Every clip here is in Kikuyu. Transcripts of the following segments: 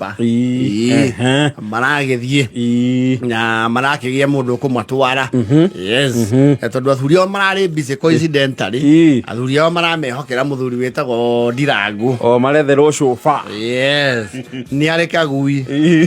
Ba. Ii. Ehe. maragĩthiĩ Ii. na marakĩgĩa mũndũ ũkũmatwara yes Eh, tondũ athuri ao mararĩ busy coincidentally Ii. athuri ao maramehokera mũthuri wĩtagwo ndirangũ o maretherwo cuba yes nĩ arĩ kagui Ii.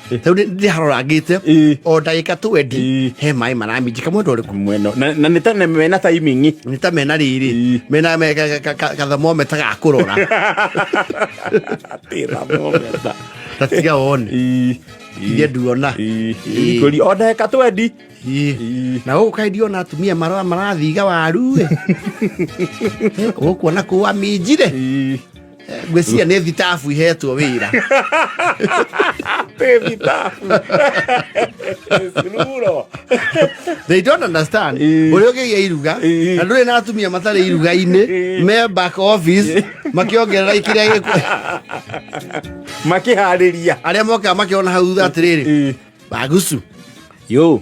rĩu nĩ- ndĩharora ngĩte Ĩĩ. o ndagĩka twendi Ĩĩ. he maĩ maraminjika mwena ũrĩkũ mwena na na nĩ ta nĩ mena taimingi nĩ ta mena rĩrĩ Ĩĩ. mena me- ka- ka- ka- kathemometa ga kũrora tĩramometa ta tiga one iria nduona Ĩĩ. ikũri o ndagĩka twendi Ĩĩ. Ĩĩ. na gũkũ kaĩ ndiona atumia mara- marathiga waru ĩ gũkuona kũwa minjire Ĩĩ. Eh, ngwĩciria nĩ thitabu ihetwo wĩra they don't understand eh. ũrĩa ũkĩgĩa iruga eh. na ndũrĩ na atumia matarĩ iruga-inĩ eh. me back office makĩongerera kĩrĩa gĩkũ makĩharĩria arĩa mokaga makĩona hau thutha atĩrĩrĩ bagucu yo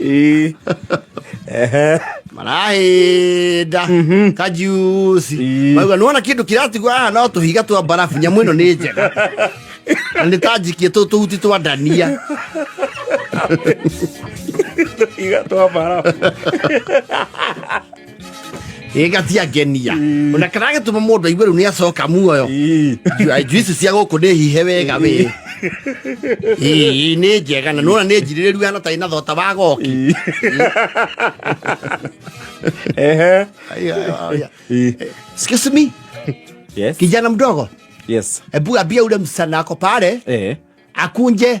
Eh. Ehe. marahĩnda kajuci mauga nĩwona kĩndũ kĩratigwo haha no tũhiga twa mbarabu nyamũ ĩno nĩ njega na nĩ ta njikie tũ tũhuti twa ndania Iga twa barabu. ĩga ciangenia ona kana gĩtũma mũndũ aigue rĩu nĩ acoka muoyo njũ ici cia gũkũ nĩ hihe wega wĩ ii nĩ njega na nona nĩ njirĩrĩru hana tarĩ na thota wa goki Ehe. Ii. excuse me Yes. kijana mdogo Yes. hebu ambia ule msichana ako pale Eh. akunje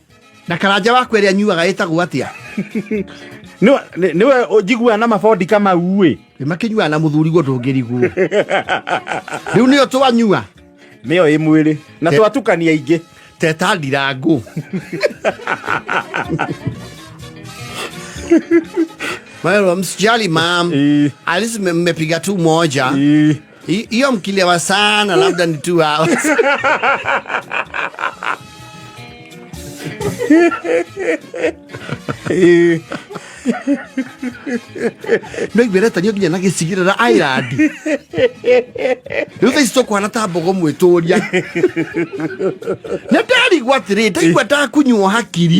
na karanja waku ĩrĩa nyuaga ĩtagwo atĩa niwe njiguaga na mabondi kama uĩ makĩnyuaga na mũthuriguo ndũngĩriguo rĩu nĩyo twanyua nĩyo ĩ mwĩrĩ na twatukania ingĩ teta ndirangũ Well, msijali mam, at least mmepiga tu moja. Hi- hiyo mkilewa sana labda ni two hours ndoigwereta nio nginya na gĩcigĩrĩra airandi rĩu thaa ici tũkwana ta mbogo mwĩtũria nĩ ndarigwo atĩrĩ ndaigua ndakunyuo hakiri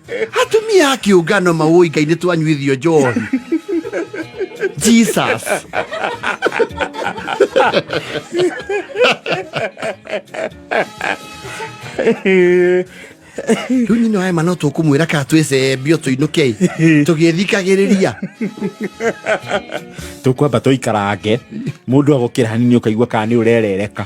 atumia a kĩũngano maũi ngai nĩ twanyuithio njohi jesus rĩu nyina wa ema no tũkũmwĩra ka twĩcembio tũinũke tũgĩthikagĩrĩria tũkwamba tũikarange mũndũ agũkĩra hanini ũkaigua kana nĩ ũrerereka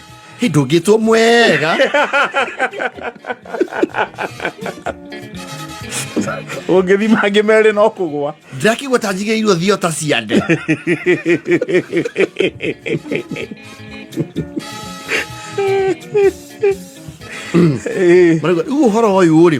Y Duguito muera. ũngĩthima angĩ merĩ no kũgwa ndĩrakĩgua ta njigĩirwo thio ta ciande rĩu ũhoro ũyũ rĩ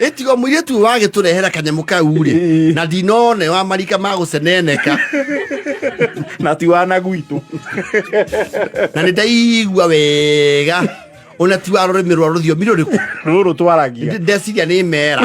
ĩtigo mũirĩtu ũyũ wagĩtũrehera kanyamũ kau rĩ Ĩĩ. na ndinone wa marika ma gũceneneka na ti wana gwitũ na nĩ ndaigua wega ona ti wa rũrĩmĩ rwa rũthiomi rũrĩkũ rũrũ twaragia Ndĩ- ndeciria nĩ mera